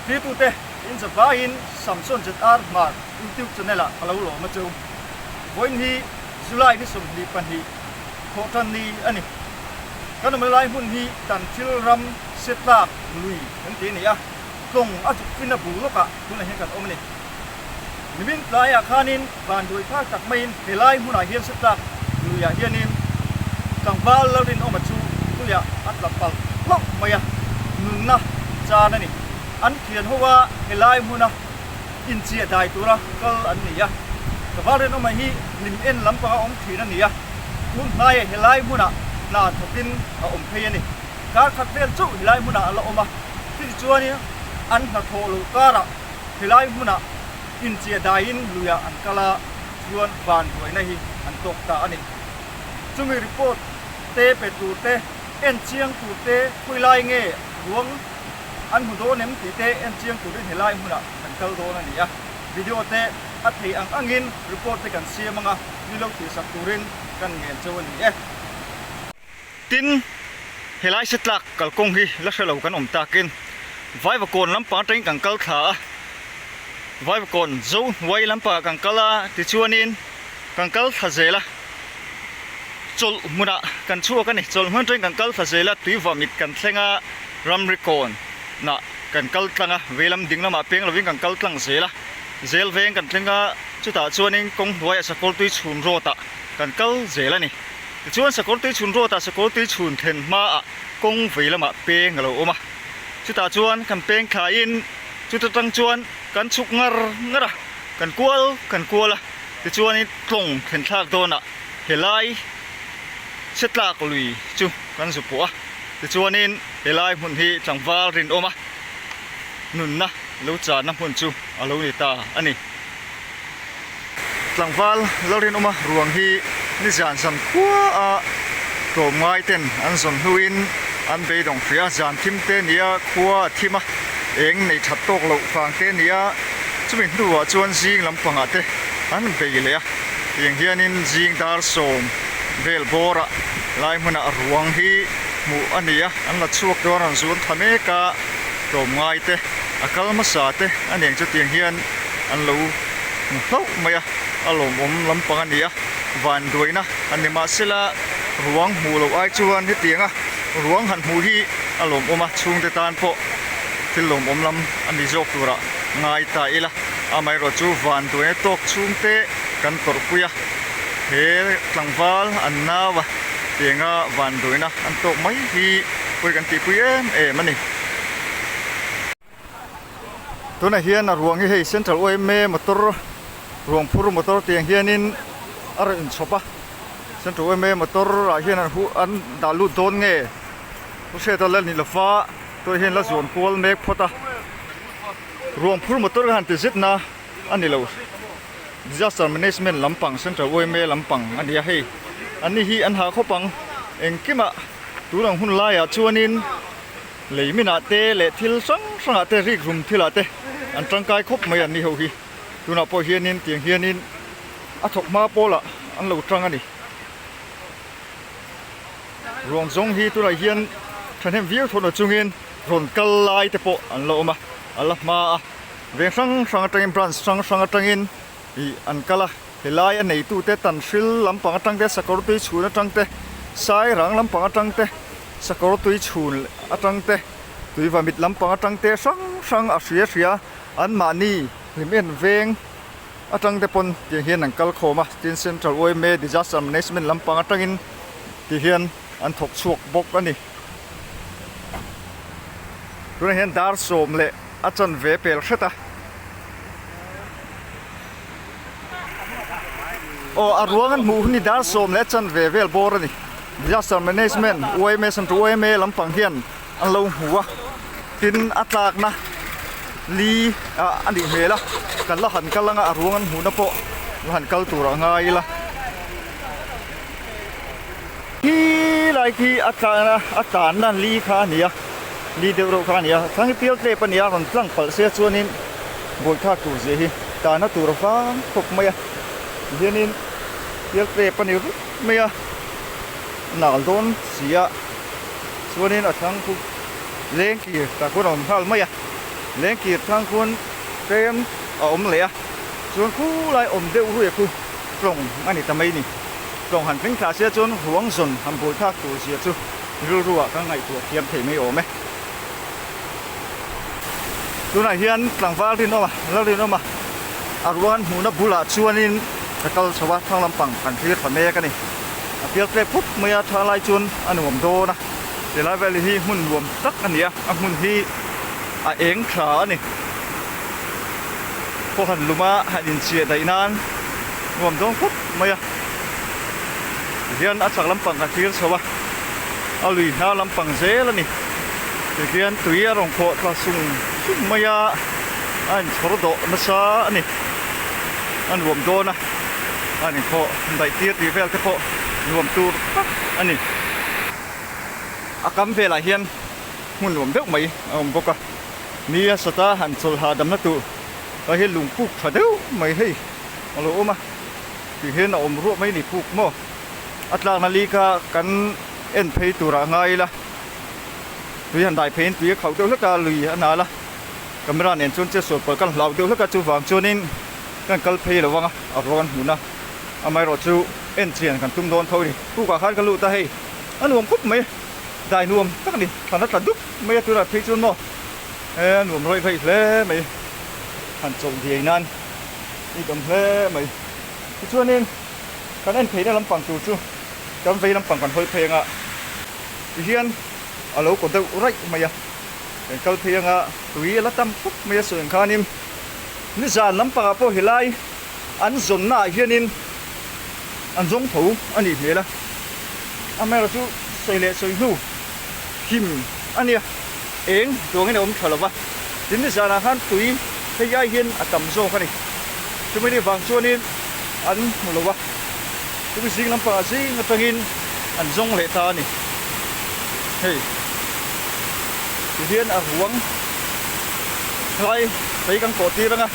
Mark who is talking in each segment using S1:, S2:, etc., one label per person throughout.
S1: Hlitute in za vaiin Samson ZR Mark Youtube channel ah ka lo lawm a cheu. Vawiin hi July ni sawmhnih pahnih khawh tan ni a ni. Kan awm lai hmun hi kan thil ram se tlak lui kan ti a ni a, tlawng a dukfina bul lawkah tunah hian kan awm a ni. Nimin tlaiah khanin. Van duai phar tak maiin helai hmunah hian satlak luiah hianin tlangval la rinawma chu tuia a tla palh hlauh mai a, nunna chan a ni. An thian ho a helai hmuna inchiah dai tura kal an ni a. Tlangval rinawma hi hlim en lampanga awm thin a ni a, tun hnaia helai hmunah hna thatin a awm phei a ni. Kar khat vel chauh helai hmunah a la awm a, chutichuanin an hna thawh loh karah helai hmunah Inchia daiin luiah an kal a, chuan van ruaina hi an tawk ta a ni. Chumi report te pe turte, en chiang turte khawi lai nge ruang an hmu dawn em tih te en chiang turin he lai hmunah kan kal dawn a nia. Video te a thei ang angin report te kan siam anga ni lo thihsak turin kan ngen cheu a ni e. Tin, helai setlak kalkawng hi la hre lo kan awm takin Vaivakawn lampang atangin kan kal thla a, Vaivakawn Zo Hnuai lampangah kan kal a, tichuanin kan kal thla zel a, chawlh hmunah kan chhuak a ni, chawlh hmun atangin kan kal thla zel a, tui vamit kan thleng a, Ramrikawnah kan kal tlang a, veilam ding lamah peng lovin kan kal tlang zel a, zel veng kan thleng a, chutah chuanin Kawng Hnuaia Sakawltui chhun rawtah kan kal zel a ni. Tichuan, Sakawrtei chhunruata sakawrtei chhun thlen hmaah kawng vei lamah peng a lo awm a, chutah chuan kan peng thlaiin chuta tang chuan kan chhuk ngar ngar a, kan kual kan kual a, tichuanin tlawng thlenthlak dawnah he lai chhiattlak lui chu kan zu pawh a, tichuanin he lai hmun hi tlangval rinawma nunna lo channa hmun chu a lo ni ta a ni. Tlangval lo rinawma ruang hi nizian zan khuaa tlawm ngai ten an zawn hnuin an beidawng hria zan thim te nia khua a thim a, eng nei that tawk loh fang te nia chumi hnuah chuan zing lampangah te an bei leh a. Tiang hianin zing dar sawm vel bawrah lai hmunah ruang hi hmuh a nia, an la chhuak dawn a rawn zuam tha mek a, tlawm ngai te a kal hmasa te a ning chu tiang hian. an lo hmu hlauh mai a, a lawmawm lampang a ni a, van duaina a ni mah se la ruang hmuh loh ai chuan hetianga ruang han hmuh hi a lawmawm a, chhungte tan pawh thil lawmawm lam a ni zawk turah ngai ta ila, amaherawh chu van duaina tawk chhungte kan tawrhpui a, he tlangval an nau a tianga van duaina an tawk mai hi pawi kan tihpui em em a ni. Tunah hian a ruang hi hei Central OMA motor ruang phur motor tih ang hianin a rawn chhawp a. Central OMA motor ah hian an huh an dah lut dawn nge ka hriat a la ni lova tunah hian la zawn kual mek phawt a. Ruang phur motor ka han ti zet na a ni lo. Disaster management lampang Central OMA lampang a ni a hei. An ni hi an ha khawp ang. Engkimah tun an hun laiah chuanin Lei minah te leh thil hrang hrangah te rikrum thilah te an tangkai khawp mai an ni ho hi. Tunah pawh hianin tiang hianin a thawk hma pawlah an lo tang a ni. Rawn zawng hi tunah hian thahnem viau thawn a chungin rawn kal lai te pawh an lo awm a, a la hma a. Veng hrang hrang atangin branch hrang hrang atangin. Tih an kal a, helai a neitute Tanhril lampang atang te, Sakawr tui chhun atang te, Sairang lampang atang te, Sakawr tui chhun atang te, Tuivamit lampang atang te hrang hrang a hria hria anmahni hlim en veng atang te pawn tih ang hian an kal khawm a, tin Central OMA Disaster Management lampang atangin tih hian. an thawk chhuak bawk a ni. Tunah hian dar sawm leh a chan ve pel hret a. Aw, a ruang an hmuh hi ni, dar sawm leh a chan ve vel bawr a ni. Disaster Management, UMA, Central UMA lampang hian An lo hmu a, tin a tlakna li a nih hmel a, kan la han kal anga a ruang an hmuhna pawh la han kal tur a ngai ila. Hi lai khi a tlakna a tanna li kha a ni a, li deuh reuh kha a ni a, thlang hi pial tlep a ni a, rawn tlang palh sia chuanin buaithak tur zia hi tanna tur a vang khawp mai a, ti hianin pial tlep a ni vut mai a, nal dawn sia. chuanin a thangku lengkir ta khuan a awm nghal mai a, lengkir thang khuan tlem a awm leh a, chuan khulai awm deuh ruih khu tlawng a ni ta mai ni. Tlawng han tling thla sia chuan Ruangzawn han buaithlak tur zia chu rilru ah kan ngaihtuah thiam thei mai awm e. tunah hian tlangval rinawm a lo rinawm a a ruahan hmuhna bulah chuanin ka kal chho a thlang lampang kan thlir ta mek a ni a pial tlek phawp mai a tha lai chuan a nuam dawn a ti lai vel hi hmun nuam tak a ni a a hmun hi a eng thla a ni khaw han luma han inchiah daih nan nuam dawn khawp mai a tihian a chak lampang kan thlir chho a a lui hna lampang zel a ni. Tihian tui a rawn khawh thla sung sung mai a, a inchhawr dawh nasa a ni. A nuam dawn a, a ni khawh daih tir tih vel te pawh nuam tur tak a ni. A kam velah hian hmun nuam deuh mai a awm bawk a, mi a sata han chawl hahdamna tur a hi lung puk tha deuh mai hei a lo awm a, tihian a awm ruah mai a ni puk maw? A tlakna lika kan en phei turah ngai ila. tui han dai pheiin tui a khauh deuh hlek a, lui a nal a, camera nen chuan che sual pawl kan hlau deuh hlek a, chuvang chuanin kan kal phei lo vang a, a ro kan hmun a, amaherawh chu en chian kan tum dawn tho a ni, kukah khan ka lut a hei a nuam khawp mai a, dai nuam tak a ni, thlan a tla dup mai a tunah phei chuan maw he a nuam raih raih hle mai, han chawlh diai nan i dawm hle mai, tichuanin kan en pheina lampang tur chu kan vei lampang kan hawi phei anga. ti hian a lo kaw deuh raih mai a, eng kal phei anga tui a la tam khawp mai a sawi ang khanin nizan lampangah pawh helai an zawnnaah hianin an zawng tho a nih hmel a, a mera chu sawi leh sawi hnu him a nia. Eng chuangin a awm tha lo va, tin ni zanah khan tui hei ai hian a tam zawk a ni. Chumi ni vang chuanin an hmu lo va, chumi zing lampang ah zing atangin an zawng leh ta a ni. Hei ti hian a ruang hlai kei kan kawhtir anga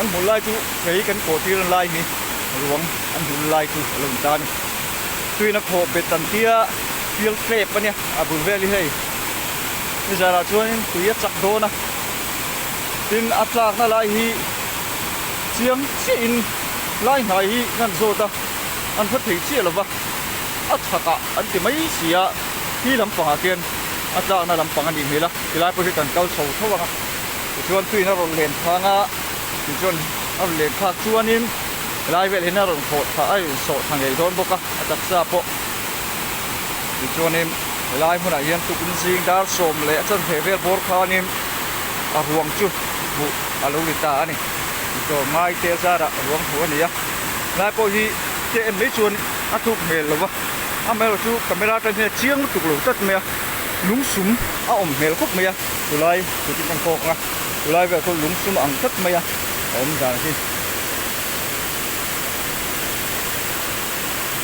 S1: an hmu lai chu kei kan kawhtir an lai hi ruang an hul lai chu a lo ni ta a ni. Tuin a khawh bet an tia field flap a nia a bul vel hi hei. ni zarah chuanin tui a chak dawn a, tin a tlakna lai hi chiang chiahin lai hnai hi ngan zawt a, an hla thei chiah lova, a chhakah an ti mai si a, hi lampangah khian a tlakna lampang a nih hmel a, ti lai pawh hi kan kal chho thauh ang a, tichuan tuiin a rawn len phang a, tichuan a rawn len phak chuanin helai vel hian a rawn hawhthah a rawn sawhthah ngei dawn bawk a, a taksa pawh. tichuanin helai hmunah hian tukin zing dar sawm leh a chhan thei vel bawr khanin a ruang chu hmuh a lo ni ta a ni tawh ngai te zara ruang hmuh a ni a helai pawh hi hriat en mai chuan a tuk hmel lo va amaherawh chu camera atang hian a chiang lutuk lo tlat mai a lung sum a awm hmel khawp mai a chulai tutin kan thawk ang a chulai velah chuan lung sum a ang tlat mai a a awm dan hi.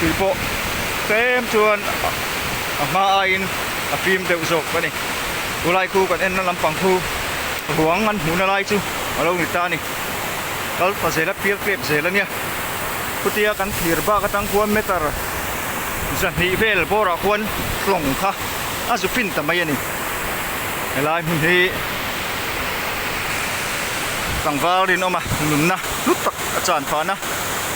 S1: tui pawh tlem chuan a hma aiin a fim deuh zawk a ni. Khulai khu kan enna lampang khu ruang an hmuhna lai chu a lo ni ta a ni. Kal ta zel a, pial klep zel a nia. Khutia kan thlir bak atang khuan meter zahnih vel bawrah khuan hlawng kha a zu fin ta mai a ni. Helai hmun hi tlangval rinawma nunna hlut tak a chan phan a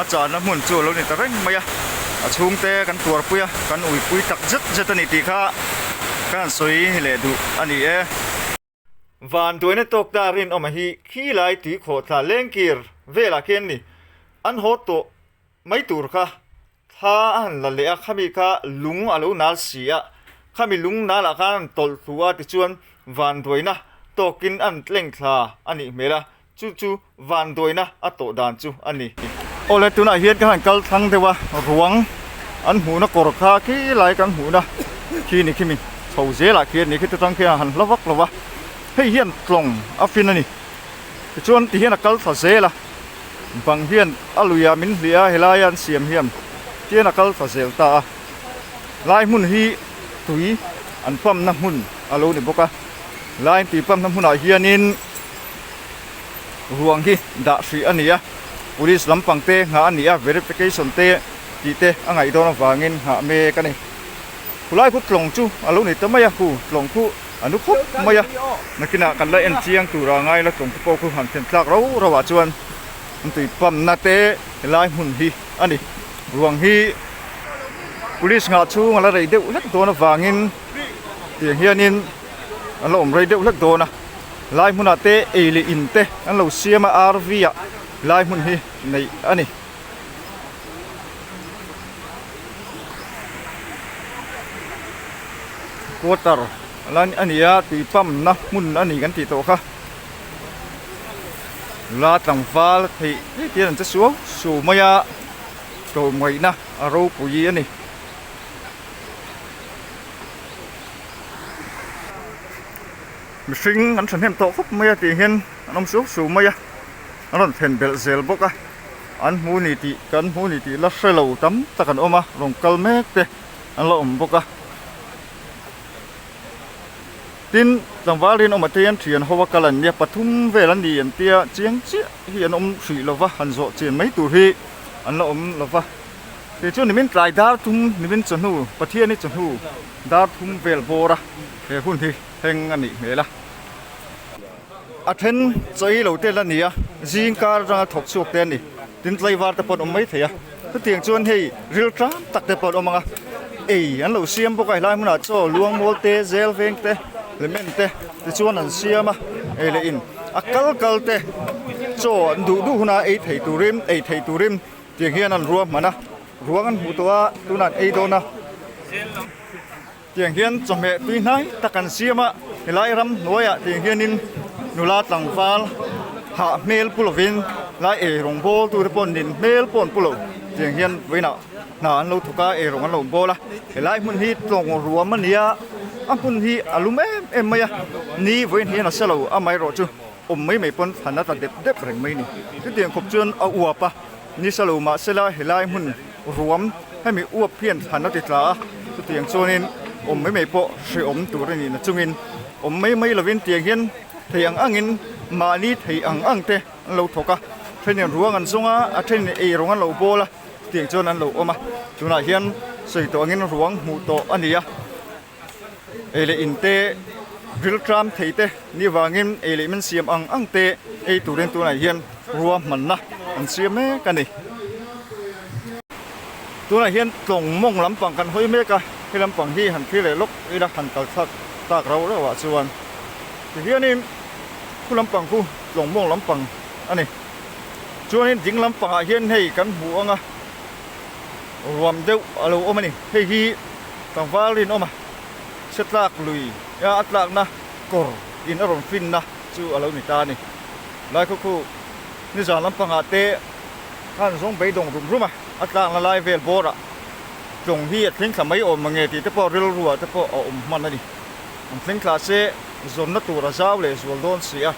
S1: a chana hmun chu a lo ni ta reng mai a a chhungte kan tuarpui a kan uipui tak zet zet a ni tih kha kha han sawi leh duh a ni e. Van tuaina tawk ta rinawmah hi khi lai tui khawh thla lengkir velah khian a ni. An haw tawh mai tur kha Thla a han la leh a, khami kha lung a lo nal si a, khami lung nal ah khan a han tawlh thlu a tichuan vanduaina tawk in a han tleng thla a nih hmel a, chu chu vanduaina a tawh dan chu a ni. Aw le, tunah hian ka han kal thlang deuh a, ruang an hmuhna kawr kha khi lai kan hmuhna khi ni khi mi chho zel ah khi a ni, khitah tan khian a han hla vak lo a, hei hian tlawng a fin a ni tichuan ti hian a kal thla zel a. Bang hian a luia min hliah a, helaia an siam hiam tian a kal ta zel ta a. Lai hmun hi tui an pump-na hmun a lo ni bawk a, laiin tui pump-na hmunah hianin ruang hi dah hrih a ni a, Police lam pang te nghah a ni a, verification te tih te a ngaih dawn avangin nghah mek a ni. Khulai kut tlawng chu a lo ni ta mai a, khu tlawng khu. A nu khawp mai a, nakinah kan la enchiang tura a ngaila tlawng te pawh khu han thlen tlak rau rau ah chuan intui pamna te helai hmun hi a ni. Ruang hi Police nghah chhung a la rei deuh hlek dawn avangin tiang hianin an la awm rei deuh hlek dawn a, helai hmunah te ei leh in te an lo siam a, RV ah helai hmun hi neih a ni. Water la a ni a tui pump na hmun a ni kan tih tawh kha la tlangval theih theih te hian an che suau suau mai a chawhmeh na a ropui a ni. An rawn phen belh zel bawk a, an hmu ni tih kan hmu ni tih la hre lo tam tak an awm a, rawn kal mek te an la awm bawk a, tin tlangval rin awm atein thian ho a kal an nia, pathum vel an ni an tia chiang chiah hi an awm hrih lo va, han zawh chen mai tur hi an la awm lo va, keichu nimin tlai dar thum nimin chawhnu Pathian i chawhnu dar thum vel bawra he hun hi heng a nih hmel a. A then chawih lo tel a ni a, zing kar atanga thawk chhuak te a ni. Tin, tlaivar te pawh an awm mai thei a. Chutiang chuan hei rilṭam tak te pawh an awm ang a, ei an lo siam bawk a, helai hmunah chaw luangmawl te, zel veng te, lehment te tichuan an siam a, ei leh in a kal kal te chaw an duh duh huna ei thei turin, ei thei turin tiang hian an ruahman a, ruang an hmuh tawh a, tunah an ei dawn a. Tiang hian chawhmeh tui hnai ta kan siam a, helai ram hnuaiah tiang hianin nula tlangval hah hmel pu lovin lai ei rawn bawl tute pawh nin hmel pawh an pu lo. Tiang hian vawiinah hna an lo thawk a, ei rawn an lo bawl a, helai hmun hi tlawng ruam a nia, a hmun hi a lum em em mai a, ni vawiin hian a selo amaherawhchu. Awm mai mai pawn fan a tla dep dep reng mai ni. Chutiang khawp chuan a uap a ni sa lo mah se la helai hmun ruam hemi uap hian fan a ti tla a, chutiang chuanin awm mai mai pawh hreawm tur a ni na chungin awm mai mai lovin tiang hian thei ang angin mahni thei ang ang te an lo thawk a, thenin ruang an zawng a, a thenin ei rawng an lo bawl a chutiang chuan an lo awm a, tunah hian sawi tawh angin ruang hmuh tawh a ni a, Eileih in te, rilṭam thei te ni avangin eileih min siam ang ang te eiturîn tunah hian rua hmanna an siam mek a ni. Tunah hian tlawng mawng lampang kan hawi mek a, he lampang hi han thlir leh lawk ila han kal chhak tak rau rau ah chuan tihianin khu lampang khu tlawng mawng lampang a ni. Chuanin ding lampangah hian hei kan hmu ang a. ruam deuh a lo awm a ni. Hei hi tlangval rinawm a chhe tlak lui a a tlakna kawr in a rawn finna chu a lo ni ta a ni. Laikhuakhu nizan lampangah te khan zawng beidawng rum rum a a tlakna lai vel bawrah tlawng hi a thleng thla mai awm mange tih te pawh rilruah te pawh a awm hman a ni. An thleng thla se zawnna tur a zau leh zual dawn si a.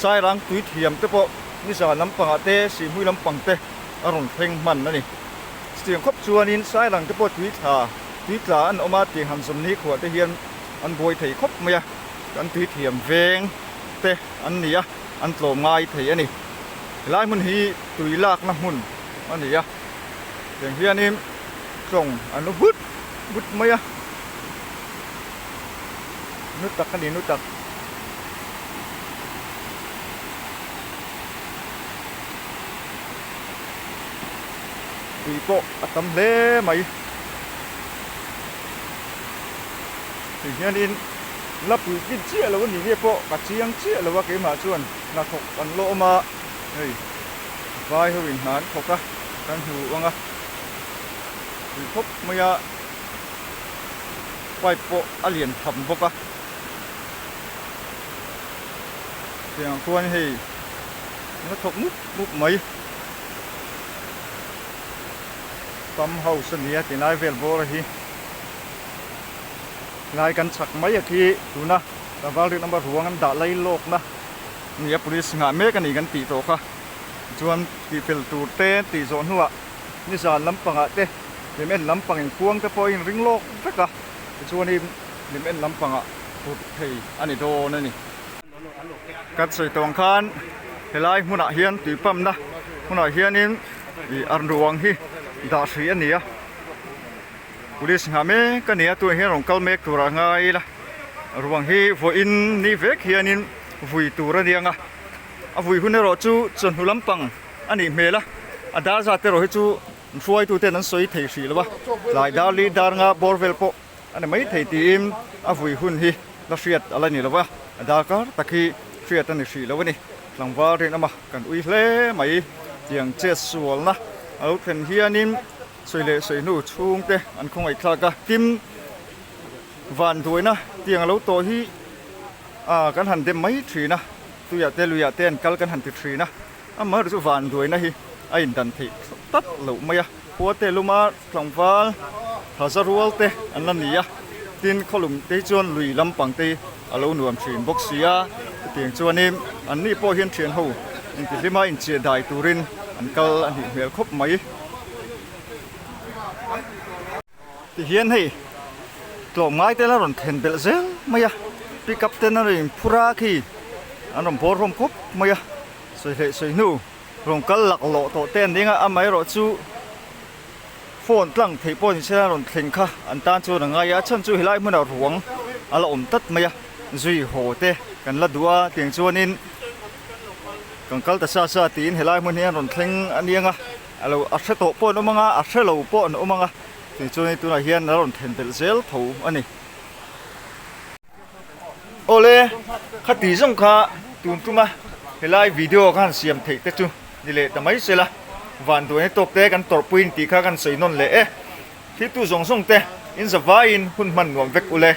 S1: Sairang tui thiam te pawh nizan lampangah te Sihmui lampang te, a rawn thleng hman a ni. Chutiang khawp chuanin Sailang te pawh tui thla, tui tla an awm a tih han zawm nikhua te hian an buai thei khawp mai a, kan tui thiam veng te an ni a, an tlawm ngai thei a ni. Helai hmun hi tui lakna hmun a ni a, tiang hianin tlawng an u but but mai a, nu tak a ni nu tak. tui pawh a tam hle mai tih hianin la pui tlin chiah lo a nih nge pawh ka chiang chiah lo a keimah chuan hnathawk an lawm a hei vai ho in hna an thawk a kan hmu ang a tui khawp mai a pipe pawh a lian tham bawk a tiang ah khuan hei. hna thawk mup mup mai. Pump house a nia tilai vel bawra hi hnai kan chak mai a khi tuna Ravalri lama ruang an dah lai lawkna nia police nghah mek a nih kan tih tawh kha chuan tihfel tur te an tih zawh hnuah nizan lampangah te lim en lampang in kuang te pawh a inring lawk vek a tichuanin lim en lampangah put phei a ni dawn a ni. Kan sawi tawng khan helai hmunah hian tui pumpna hmunah hianin ih an ruang hi dah hrui a ni a police nghah mek a ni a tunah hian rawn kal mek tur a ngai ila ruang hi vawiin ni vek hianin vui tur a nia a vui hun erawh chu chawhnu lampang a nih hmel a a dar zat erawh hi chu hruaitute an sawi thei hrih lo a tlai dar li dar nga bawr vel pawh-- A ni mai thei tiin a vui hun hi la hriat a la ni lo a, darkar tak hi hriat a ni hrih lo a ni. Tlangval rin awma kan ui hle mai tiang chet sualna a lo thlen hianin sawi leh sawi hnu chhungte an khawngaihthlak a. Kim van duaina tiang a lo tawh hi kan han dem mai thin a, tuiah te luiah ten kal kan han ti thin a. Amah erawh chu van duaina hi a in dan theih tak loh mai a, Khuate luma tlangval thaza rual te an la ni a, tin khawlum te hi chuan lui lampang te hi a lo nuam thin bawk sia, hetiang chuanin an ni pawh hian thian ho intihhlima inchiahdai turin an kal a nih hmel khawp mai. Ti hian hei tlawm ngai ten a rawn thlen belh zel mai a, pickup ten a rawn in phur a khi an rawn bawrhawm khawp mai a, sawi hleh sawi hnu rawn kal lak lawh tawh te an ding a, amah erawh chu phone tlang theih pawh ni sela rawn thlen kha an tan chu a rawn ngai a, a chhan chu helai hmunah ruang a la awm tlat mai a, zui haw te kan la duh a tiang chuan in kan kal ta sa sa tiin helai hmun hi an rawn thleng aniang a. A lo a hre tawh pawh an awm ang a, a hre lo pawh an awm ang a, tichuan hei tunah hian a rawn thlen belh zel tho a ni. Awle, khati zawng kha tun tuma helai video khan siam theih te chu ni leh ta mai sela, vanduaina tawk te kan tawrh puiin tih kha kan sawi nawn leh e. Thiltu zawng zawng te, in zavaiin hun hman nuam vek ule.